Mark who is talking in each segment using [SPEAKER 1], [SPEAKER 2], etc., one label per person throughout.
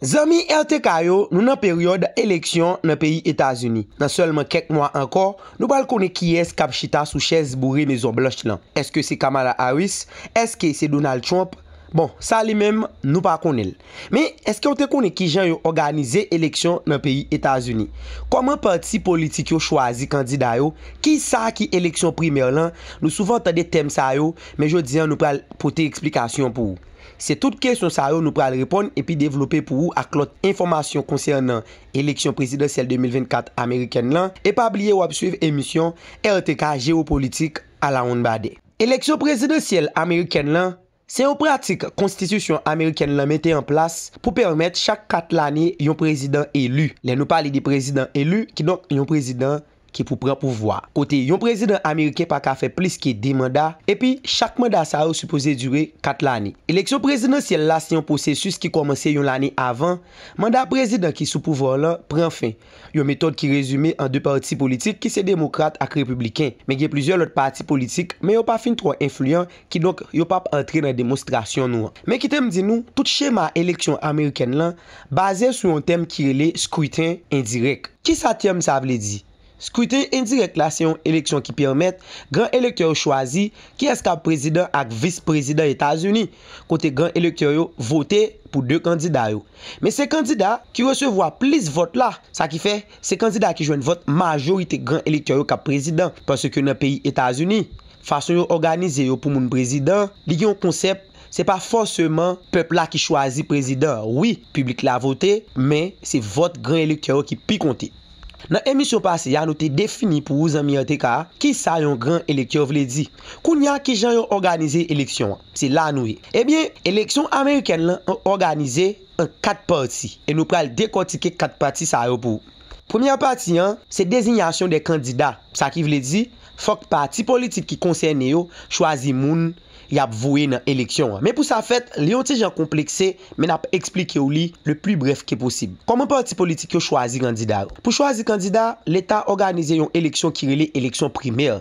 [SPEAKER 1] Zanmi RTK yo, nou nan peryòd eleksyon nan peyi Etazini. Nan sèlman kèk mwa ankò, nou pral konnen kiyès k ap chita sou chèz boure Mezon Blanch lan. Èske se Kamala Harris? Èske se Donald Trump? Bon, sa li menm, nou pa konnen l. Men, èske w te konnen ki jan yo òganize eleksyon nan peyi Etazini? Kòman pati politik yo chwazi kandida yo? Ki sa ki eleksyon primè lan? Nou souvan tande tèm sa yo, men jodi an nou pral pote eksplikasyon pou ou. Se tout kesyon sa yo nou pral reponn epi devlope pou ou ak lòt enfòmasyon konsènan eleksyon prezidansyèl 2024 amerikèn lan e pa bliye wap swiv emisyon RTK Géopolitique alawonnbadè. Eleksyon prezidansyèl amerikèn lan se yon pratik konstitisyon amerikèn lan mete an plas pou pèmèt chak 4 lane yon prezidan eli. Lè nou pale de prezidan eli, kidonk yon prezidan ki pou pran pouvwa, kote yon prezidan ameriken pa ka fè plis ke 2 manda, epi chak manda sa yo sipoze dire 4 lane. Eleksyon prezidansyèl la se yon pwosesis ki kòmanse yon lane avan manda prezidan ki sou pouvwa w lan pran fen, yon metòd ki rezime an 2 pati politik ki se demokrat ak repibliken, men gen plizyè lòt pati politik men yo pa fin twò enfliyan Kidonk, yo pa p antre nan demonstrasyon nou an. Men kite m di nou, tout chema eleksyon amerikèn lan baze sou yon tèm ki rele scrutin indirect. Kisa tèm sa vle di? Scrutin indirect la se yon eleksyon ki pèmèt gran elektè yo chwazi kiyès k ap prezidan ak vis prezidan Etazini, kote gran elektè yo vote pou 2 kandida yo. Men se kandida ki resevwa plis vòt la, sa ki fè, se kandida ki jwenn vòt majorite gran elektè yo k ap prezidan, paske nan peyi Etazini, Fason yo òganize yo pou moun prezidan, li gen yon konsèp, se pa fòseman pèp la ki chwazi prezidan. Wi, piblik la vote, men, se vòt gran elektè yo ki pi konte. Nan emisyon pase a, nou te defini pou ou zanmi RTK, ki sa yon gran elektè vle di. Kounye a, ki jan yo òganize eleksyon an? Se la a nou ye. Ebyen, eleksyon amerikèn lan òganize an 4 pati e nou pral dekòtike 4 pati sa yo pou ou. Premyè pati an, se dezinyasyon de kandida, sa ki vle di, fòk pati politik ki konsène yo chwazi moun y ap voye nan eleksyon an. Men pou sa fèt, li yon ti jan konplekse, men n ap esplike w li le pli brèf ke posib. Kòman pati politik yo chwazi kandida yo? Pou chwazi kandida, Leta òganize yon eleksyon ki rele eleksyon primè.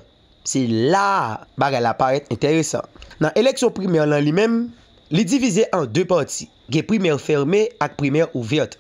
[SPEAKER 1] Se la a bagay la parèt enteresan. Nan eleksyon primè lan li menm, li divize an 2 pati, gen primè fèrme ak primè ouvèt.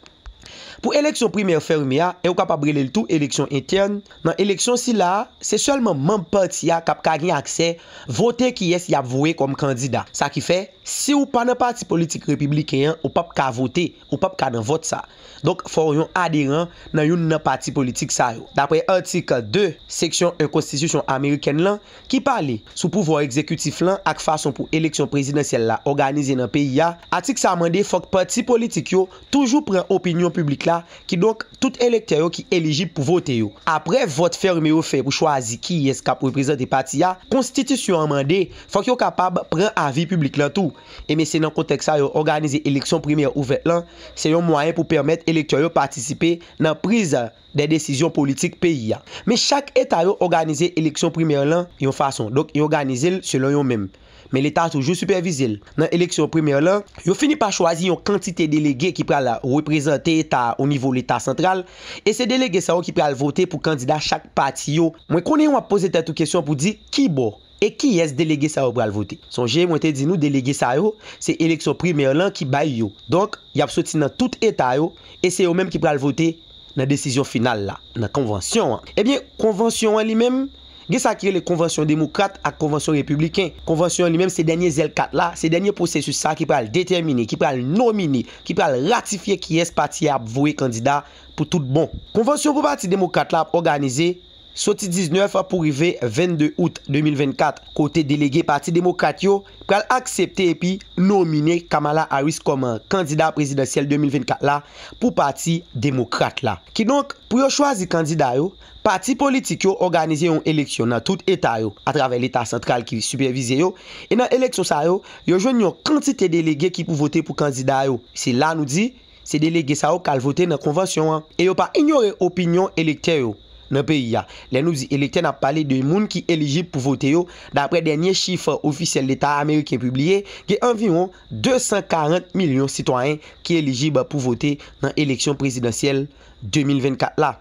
[SPEAKER 1] Pou eleksyon primè fèrme a, e ou kapab rele l tou eleksyon entèn, nan eleksyon sila a, se sèlman manb pati a k ap ka gen aksè vote kiyès y ap voye kòm kandida. Sa ki fè, si ou pa nan pati politik Repibliken an, ou p ap ka vote. Ou pap ka nan vòt sa. Donk, fò w yon aderan nan youn nan pati politik sa yo. Dapre atik 2, seksyon 1 konstitisyon amerikèn lan, ki pale sou pouvwa egzekitif lan ak fason pou eleksyon prezidansyèl la òganize nan peyi a, atik sa mande fòk pati politik yo toujou pran opinyon piblik la, kidonk tout elektè yo ki elijib pou vote yo. Apre vòt fèmen yo fè pou chwazi kiyès k ap reprezante pati a, konstitisyon an mande fòk yo kapab pran avi piblik lan tou. Enben se nan kontèks sa yo òganize eleksyon primè ouvèt lan, se yon mwayen pou pèmèt elektè yo patisipe nan priz dè desizyon politik peyi a. Men chak eta yo òganize eleksyon primè lan yon fason, donk yo òganize l selon yo menm. Men leta toujou sipèvize l. Nan eleksyon primè lan, yo fini pa chwazi yon kantite delege ki pral reprezante eta a onivo leta santral e se delege sa yo ki pral vote pou kandida chak pati yo. Mwen konnen w ap poze tèt ou kesyon pou di ki bò E kiyès delege sa yo pral vote? Sonje mwen te di nou delege sa yo se eleksyon primè lan ki bay yo. Donk, y ap soti nan tout eta yo e se yo menm ki pral vote nan desizyon final la, nan konvansyon an. Ebyen, konvansyon an li menm, gen sa ki rele konvansyon demokrat ak konvansyon repibliken. Konvansyon an li menm se dènye zèl kat la, se dènye pwosesis sa ki pral detèmine, ki pral nomine, ki pral ratifye kiyès pati a ap voye kandida pou tout bon. Konvansyon pou pati demokrat la ap òganize soti 19 pou rive 22 out 2024, kote delege Pati Demokrat yo pral aksepte epi nomine Kamala Harris kòm kandida prezidansyèl 2024 la pou Pati Demokrat la. Kidonk, pou yo chwazi kandida yo, pati politik yo òganize yon eleksyon nan tout eta yo, atravè Leta santral ki sipèvize yo, e nan eleksyon sa yo, yo jwenn yon kantite delege ki pou vote pou kandida yo. Se la nou di, Se delege sa yo k al vote nan konvansyon an. E yo pa inyore opinyon elektè yo nan peyi a. Lè nou di elektè n ap pale de moun ki elijib pou vote yo. Daprè dènye chif ofisyèl leta ameriken pibliye, gen anviwon 240 milyon sitwayen ki elijib pou vote nan eleksyon prezidansyèl 2024 la.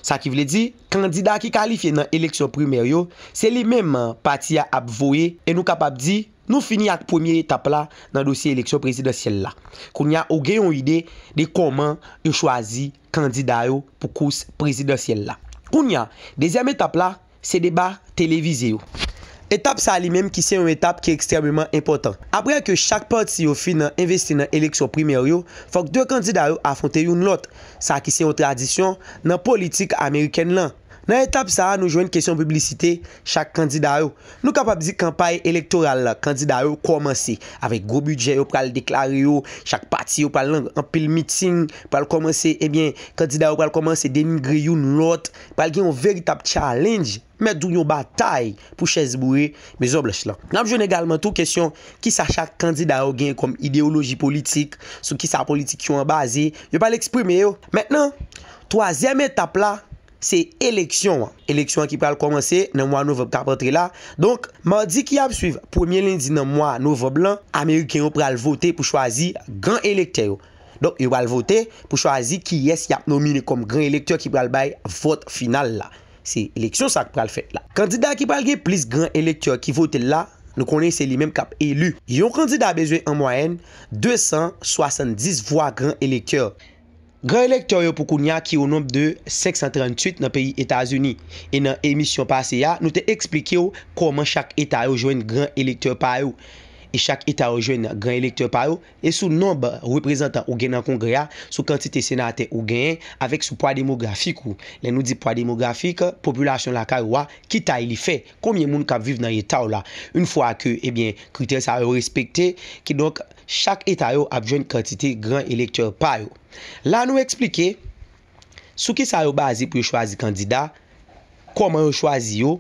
[SPEAKER 1] Sa ki vle di, kandida ki kalifye nan eleksyon primè yo, se li menm pati a ap voye e nou kapab di, Nou fini ak premye etap la nan dosye eleksyon prezidansyèl la. Kounye a ou gen yon ide de kòman yo chwazi kandida yo pou kous prezidansyèl la. Kounye a, dezyèm etap la, se deba televize yo. Etap sa li menm ki se yon etap ki ekstrèmeman enpòtan. Aprè ke chak pati yo fin nan envesti nan eleksyon primè yo, fòk 2 kandida yo afwonte youn lòt, sa ki se yon tradisyon nan politik amerikèn lan. Nan etap sa a nou jwenn kesyon piblisite chak kandida yo. Nou kapab di kanpay elektoral kandida yo kòmanse avèk gwo bidjè yo pral deklare yo, chak pati yo pral nan anpil meeting, pral kòmanse ebyen kandida yo pral kòmanse denigre youn lòt, pral gen yon veritab challenge, mèt di w yon batay pou chèz boure Mezon Blanch lan. N ap jwenn egalman tou kesyon kisa chak kandida yo genyen kòm ideyoloji politik, sou kisa politik yo an baze, yo pral eksprime yo. Mentnan, Twazyèm etap la, se eleksyon an. Eleksyon an ki pral kòmanse nan mwa novanb k ap antre la. Donk, madi ki ap suiv premye lendi nan mwa novanb lan, ameriken yo pral vote pou chwazi gran elektè yo. Donk, yo pral vote pou chwazi kiyès y ap nomine kòm gran elektè ki pral bay vòt final la. Se eleksyon sa k pral fèt la. Kandida ki pral gen plis gran elektè ki vote l la, nou konnen se li menm k ap eli. Yon kandida bezwen an mwayèn 270 vwa gran elektè. Gran elektè yo pou kounya ki o nonb de 538 nan peyi Etazini e nan emisyon pase a nou te eksplike w kòman chak eta yo jwenn gran elektè pa yo e chak eta yo jwenn gran elektè pa yo e sou nonb reprezantan ou gen nan kongrè a sou kantite senatè ou genyen avèk sou pwa demografik ou lè nou di pwa demografik popilasyon lakay ou a ki tay li fè konbyen moun kap viv nan eta w la yn fwa ke ebyen kritè sa yo respekte kidonk Chak eta yo ap jwenn kantite gran elektè pa yo. La nou eksplike sou ki sa yo baze pou yo chwazi kandida, kòman yo chwazi yo,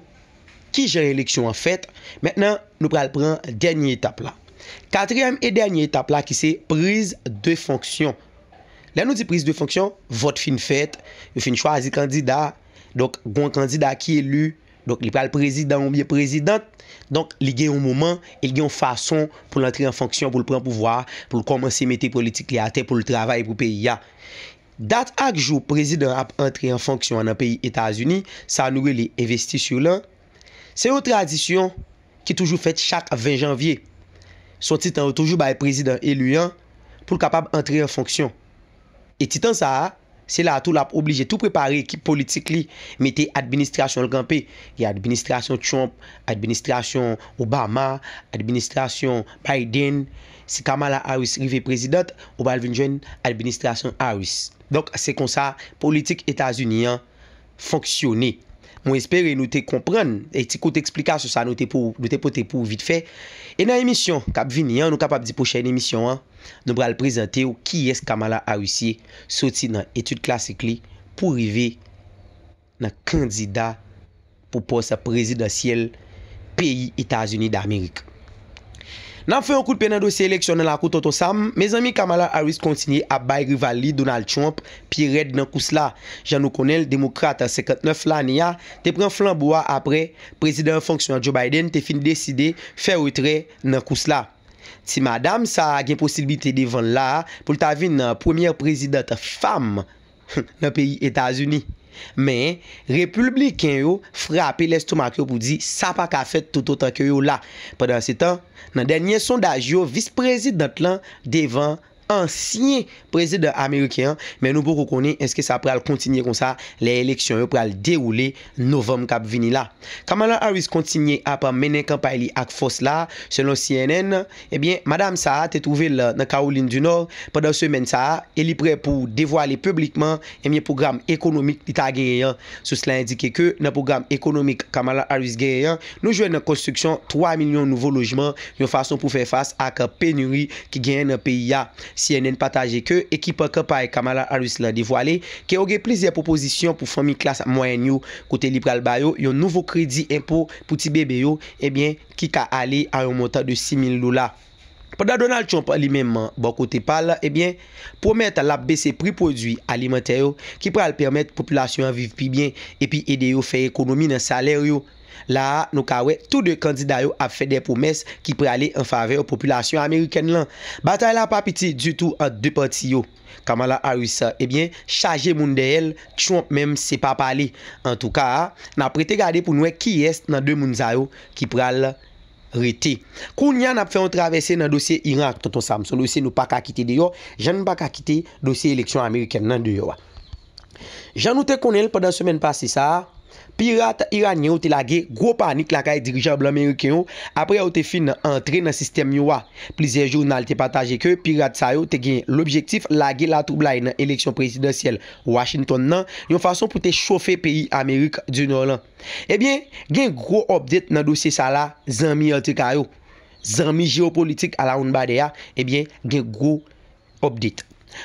[SPEAKER 1] ki jan eleksyon an fèt. Mentnan nou pral pran dènye etap la. Katriyèm e dènye etap la ki se priz de fonksyon. Lè nou di priz de fonksyon, vòt fin fèt, yo fin chwazi kandida, donk gon kandida ki eli. Donk li pral prezidan ou byen prezidant, donk li gen yon moman e li gen yon fason pou l antre an fonksyon, pou l pran pouvwa a, pou l kòmanse mete politik li atè, pou l travay pou peyi a. Dat ak jou prezidan an ap antre an fonksyon an nan peyi Etazini, sa nou rele investiture lan, se yon tradisyon ki toujou fèt chak 20 janvye. Son ti tan yo toujou bay prezidan eli an pou l kapab antre an fonksyon. E ti tan sa a, se la a tou l ap oblije tou prepare ekip politik li, mete administrasyon l kanpe. Gen administrasyon Trump, administrasyon Obama, administrasyon Biden. Si Kamala Harris rive prezidant, ou pral vin jwenn administrasyon Harris. Donk, se konsa politik Etazini an. fonksyone. Mwen espere nou te konprann e ti kout eksplikasyon sa nou te pou nou te pote pou ou vit fè. E nan emisyon k ap vini an, nou kapab di pwochèn emisyon an, nou pral prezante ou kiyès Kamala Harris ye, soti nan etid klasik li pou rive nan kandida pou pòs prezidansyèl peyi Etazini Damerik. Nap fè yon kout pye nan dosye eleksyon nan lakou Tonton Sam, mezanmi Kamala Harris kontinye ap bay rival li Donald Trump pye rèd nan kous la. Jan nou konnen l, demokrat 59 lane a te pran flanbo a aprè Prezidan an fonksyon an Joe Biden te fin deside fè retrè nan kous la. Ti madam sa a gen posiblite devan l la a pou l ta vin premyè prezidant fanm nan peyi Etazini. Men, Repulbliken yo frape lestomak yo pou di sa pa ka fèt toutotan ke yo la. Pandansetan, nan dènye sondaj yo vis prezidant lan devan ansyen prezidan ameriken an, men nou poko konnen eske sa pral kontinye konsa lè eleksyon yo pral dewoule novanm kap vini la. Kamala Harris kontinye ap mennen kanpay li ak fòs la, selon cnn. Ebyen, madam sa a te twouve l nan Kawolin di Nò pandan semèn sa a e li prè pou devwale piblikman ebyen pwogram ekonomik li ta genyen an. Sous la endike ke nan pwogram ekonomik Kamala Harris genyen an, nou jwenn nan konstriksyon 3 milyon nouvo lojman yon fason pou fè fas ak penuri ki genyen nan peyi a. Cnn pataje ke ekip kanpay Kamala Harris la devwale ke yo gen plizyè pwopozisyon pou fanmi klas mwayèn yo kote li pral ba yo yon nouvo kredi enpo pou ti bebe yo ebyen ki ka ale a yon montan de 6 mil dola. Pandan Donald Trump li menm bò kote pa l ebyen pwomèt l ap bese pri pwodui alimantè yo ki pral pèmèt popilasyon an viv pi byen epi ede yo fè ekonomi nan salè yo. La a nou ka wè tou 2 kandida yo ap fè dè pwomès ki prale an favè popilasyon amerikèn lan. Batay la pa piti ditou ant 2 pati yo. Kamala Harris sa ebyen chaje moun dèyèl Trump menm se pa pale antouka nap rete gade poun wè kiyès nan 2 moun sa yo ki pral rete kounya nap fè yon travèse nan dosye Iran ak Tonton Sam son dosye nou paka kite deyò jann paka kite dosye eleksyon amerikèn nan deyò a. Jan nou te konnen l pandan semèn pase sa a, pirat iranyen yo te lage gwo panik lakay dirijan blan meriken yo apre yo te fin antre nan sistèm yo a. Plizyè jounal te pataje ke pirat sa yo te gen lobjektif lage latwoublay nan eleksyon prezidansyèl Washington nan yon fason pou te chofe peyi Amerik di Nò lan. Ebyen, gen gwo update nan dosye sa la zanmi RTK yo. Zanmi jewopolitik alawonnbadè a, ebyen gen gwo Update,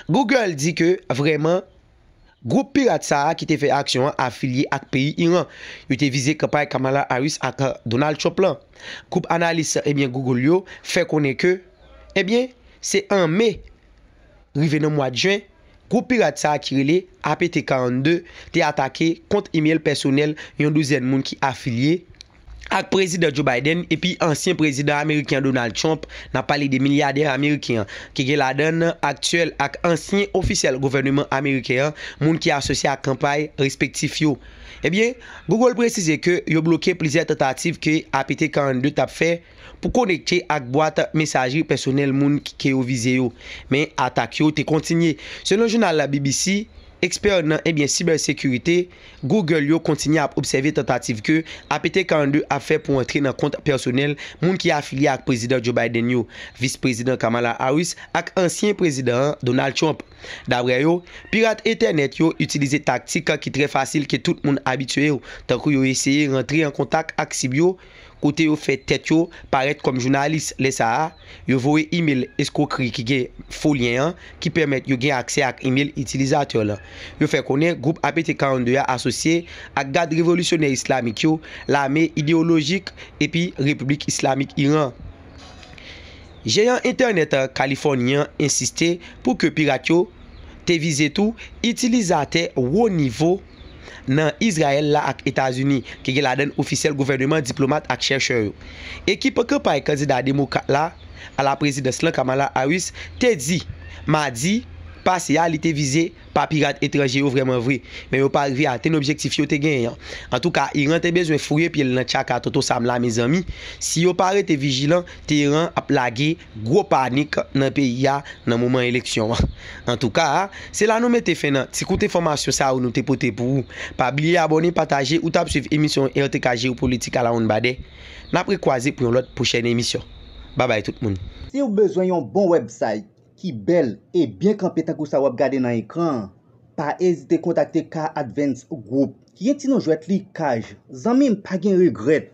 [SPEAKER 1] Google di ke vrèman gwoup pirat sa a ki te fè aksyon an afilye ak peyi Iran. Yo te vize kanpay Kamala Harris ak Donald Trump lan. Gwoup analis ebyen Google yo fè konnen ke ebyen se an Me rive nan mwad Jen, gwoup pirat sa a ki rele APT 42 te atake kont imel pèsonèl yon douzèn moun ki afilye ak Prezidan Joe Biden epi ansyen Prezidan Ameriken Donald Trump, n ap pale de milyadè Ameriken an, ki gen ladan l aktyèl ak ansyen ofisyèl gouvèneman Ameriken an, moun ki asosye ak kanpay respektif yo. Ebyen, Google presize ke yo bloke plizyè tantativ ke APT 42 t ap fè pou konekte ak bwat mesajri pèsonèl moun ke yo vize yo. Men, atak yo te kontinye. Selon jounal BBC, ekspè nan ebyen sibèsekirite, Google yo kontinye ap obsève tantativ ke APT-42 ap fè pou antre nan kont pèsonèl moun ki afilye ak Prezidan Joe Biden yo, Vis Prezidan Kamala Harris ak ansyen Prezidan an, Donald Trump. Daprè yo, pirat entènèt yo itilize taktik ki trè fasil ke tout moun abitye yo, tankou yo eseye rantre an kontak ak sib yo, kote yo fè tèt yo parèt kòm jounalis, lè sa a, yo voye imel eskwokri ki gen fo lyen an ki pèmèt yo gen aksè ak imel itilizatè lan. Yo fè konnen gwoup APT 42 a asosye ak Gad Revolisyonè Islamik yo, lame ideyolojik epi Repiblik Islamik Iran. Jeyan entènèt Kalifòni an ensiste pou ke pirat yo te vize tou itilizatè wo nivo, nan Izrayèl la ak Etazini, ki gen ladann ofisyèl gouvèneman, diplomat ak chèchè yo. Ekip kanpay kandida demokrat la a la prezidans lan, Kamala Harris, te di madi pase a li te vize pa pirat etranje yo vrèman vre, men yo pa rive atenn objektif yo te genyen an. Antouka, Iran te bezwen fouye pye l nan tchaka Tonton Sam la mezanmi, si yo pa rete vijilan, Teheran ap lage. Gwo panik nan peyi a nan moman eleksyon an. Antouka, se la nou mete fen nan ti kout enfòmasyon sa yo nou te pote pou ou. Pa bliye abòne, pataje ou t ap swiv emisyon RTK Jeyopolitik alawonnbadè. N ap rekwaze pou yon lòt pwochèn emisyon. Babay tout moun. Siw bezwen yon
[SPEAKER 2] bon website ki bèl e byen kanpe tankou sa wap gade nan ekran an, pa ezite kontakte K-Advance Group ki gen ti non jwèt li Kaj. Zanmim pa gen regrèt!